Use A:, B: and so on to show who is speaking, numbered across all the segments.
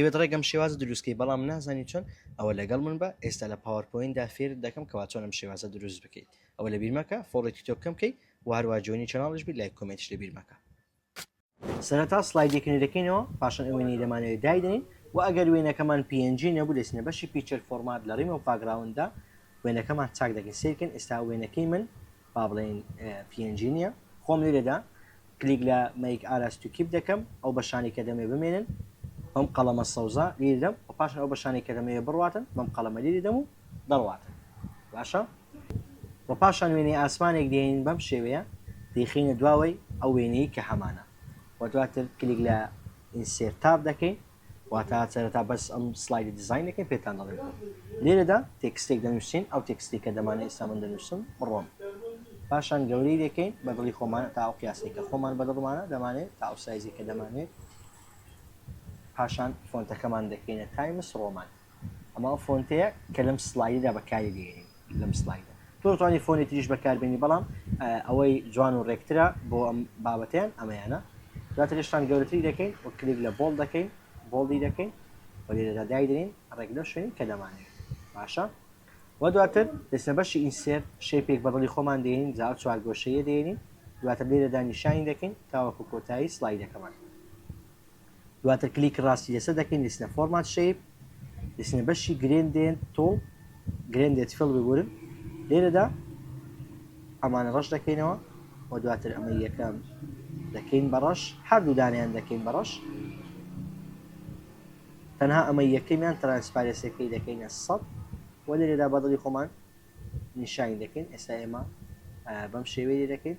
A: دەیەوێت ڕێک ئەم شێوازە دروست کەی بەڵام نازانی چۆن ئەوە لەگەڵ من بە ئێستا لە پاوەرپۆیندا فێرت دەکەم کەوا چۆن ئەم شێوازە دروست بکەیت ئەوە لە بیرمەکە فۆڵێکی تۆ بکەم کەی وهروە جوێنی چناڵش بی لایک کۆمێنتش لە بیرمەکە سەرەتا سلایدێک نوێدەکەینەوە پاشان ئەو وێنەی دەمانەوێت دایدەین و ئەگەر وێنەکەمان PNG نەبوو دەچینە بەشی پیچەر فۆرمات لە ڕیمۆڤ باکگراونددا وێنەکەمان چاک دەکەین سەیرکەن ئێستا وێنەکەی من با بڵێین پی ئێن جی نیە خۆم لێرەدا کلیک لە مەیک ئاراس تو کیپ دەکەم ئەو بەشانی کە دەمێ بمێنن بەم قەڵەمە سەوزە لێ دەم و پاشان ئەو بەشانی کە دەمەوێ بڕواتن بەم قەڵەمە لێ دەم و دەڕواتن باشە و پاشان وێنەی ئاسمانێک دێنین بەم شێوەیە دەیخینە دواوەی ئەو وێنەی کە هەمانە و دواتر کلیک لە ئینسێرتاب دەکەین واتە سەرەتا بەس ئەم سلایدە دیزاین دەکەین پێتان دەڵێن لێرەدا تێکستێک دەنووسین ئەو تێکستی کە دەمانە ئێستا من دەنووسم بڕۆم پاشان گەورەی دەکەین بە دڵی خۆمان تا ئەو قیاسی کە خۆمان بە دڵمانە دەمانێت تا ئەو سایزی کە دەمانێت پاشان فۆنتەکەمان دەکەینە تایمس ڕۆمان ئەمە ئەو فۆنتەیە کە لەم سلایدەدا بەکاری دێنین لەم سلایدە تۆ دەتوانانی فۆنی تریش بەکاربێنی بەڵام ئەوەی جوان و ڕێکترە بۆ ئەم بابەتیان ئەمەیانە دواتر شتان گەورەتری دەکەین و کلیک لە بۆڵ دەکەین بۆڵی دەکەین و لێرەدا دایدرین ڕێک لەو شوێنی کە دەمانێت باشە و دواتر دەچنە بەشی ئینسێر شێپێک بە دڵی خۆمان دێنین جا ئەو چوارگۆشەیە دێنین دواتر لێرەدا نیشانی دەکەین تاوەکو کۆتایی سلایدەکەمان دواتر کلیکی ڕاستی لەسەر دەکەین لەسنە فۆرمات شەیپ لەسنە بەشی گرێندێن تۆڵ گرێندێت فڵ ببورن لێرەدا ئەمانە ڕەش دەکەینەوە و دواتر ئەمە یەکەم دەکەین بەڕەش هەردوو دانیان دەکەین بەڕەش تەنها ئەمە یەکەمیان ترانسپارێسەکەی دەکەینە سەد و لێرەدا بەدڵی خۆمان نیشانی دەکەین ئێستا ئێمە بەم شێوەیە دەکەین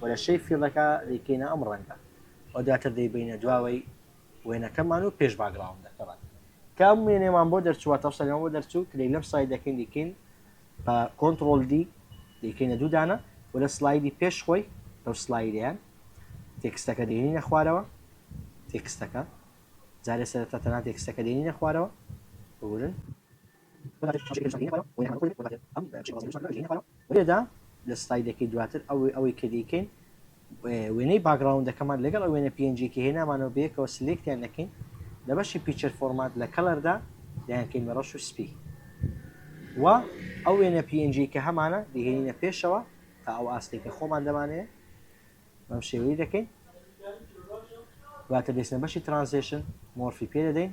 A: و لە شەی فیڵەکە دەیکەینە ئەم ڕەنگە و دواتر دەیبەینە دواوەی وێنەکەمان و پێش باگراوندەکە بەن کە ئەم وێنەمان بۆ دەرچووە تەوسەلەوە بۆ دەرچوو کلێک لەم سای دەکەین دیکەین بە کۆنتترۆل دی دیکەینە دوودانە و لە سلایدی پێش خۆی لەو سلایدەیان تێکستەکە دێنینە خوارەوە تێکستەکە جارێ سەرەتا تەنها تێکستەکە دێنینە خوارەوە بورن لێرەدا لە سلایدەکەی دواتر ئەوەی کە دەیکەین وێنەی باکگراوندەکەمان لەگەڵ ئەو وێنە png کە هێنامانەوە بەیەکەوە سلێکتیان دەکەین لە بەشی پیچەر فۆرمات لە کەڵەردا دەیانکەین بە ڕەش و سپی و ئەو وێنە png کە هەمانە دەهێنینە پێشەوە تا ئەو ئاستێک کە خۆمان دەمانەیە بەم شێوەی دەکەین دواتر دەچنە بەشی ترانزێشن مۆرفی پێ دەدەین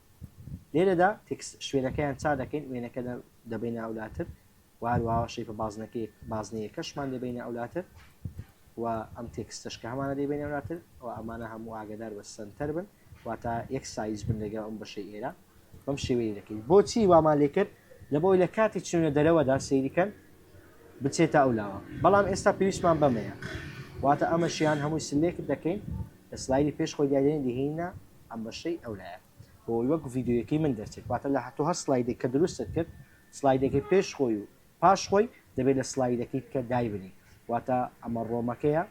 A: لێرەدا تێکست شوێنەکەیان چا دەکەین وێنەکە دەبینە ئەولاتر و هەروەها شەیپە بازنەکەی بازنەیەکەشمان دەبینە ئەولاتر و ئەم تێکستەش کە هەمانە دەبینە ئەولاتر و ئەمانە هەموو ئاگدار بە سنتەر بن واتە یەک سایز بن لەگەڵ ئەم بەشەی ئێرە بەم شێوەیە دەکەین بۆچی وامان لێ کرد لە بۆی لە کاتی چونە دەرەوەدا سەیریکەن بچێتە ئەو لاوە بەڵام ئێستا پێویستمان بەمەیە واتە ئەمەشیان هەمووی سلێکت دەکەین لە سلایری پێش خۆی دیادێن دهینە ئەم بەشەی ئەو لایە بۆ ئەوەی وەک ڤیدیۆیەکەی من دەرچێت واتە لە هەتۆ هەر سڵایدێک کە دروستت کرد سڵایدەکەی پێش خۆی و پاش خۆی دەبێت لە سڵایدەکەی بکە دایبنی واتە ئەمە ڕۆمەکەیە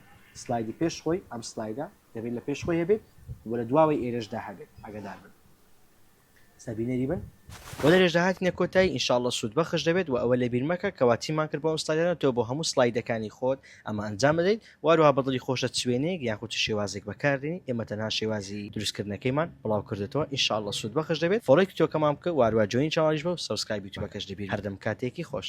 A: سڵایدی پێش خۆی ئەم سڵایدە دەبێت لە پێش خۆی هەبێت وە لە دواوەی ئێرەشدا هەبێت ئاگادار بن سە بینەری بن. بۆ درێژدا هاتینە کۆتایی ان شاءاللە سود بەخش دەبێت وە ئەوە لەبیر مەکە کەوا چیمان کرد بۆ ئەم سلایدانە تۆ بۆ هەموو سلایدەکانی خۆت ئەمە ئەنجام دەدەیت وەهەروەها بەدڵی خۆشت چ وێنەیەک یاخود چ شێوازێک بەکاردێنیت ئێمە تەنها شێوازی دروست کردنەکەیمان بڵاو کردۆتەوە ان شاءاللە سود بەخش دەبێت فۆڵۆی کتۆکەمان بکە وەهەروەها جۆینی چەناڵیش بە و سەبسکرایب یوتوبەکەش لەبیر مەکە هەردەم کاتێکی خۆش.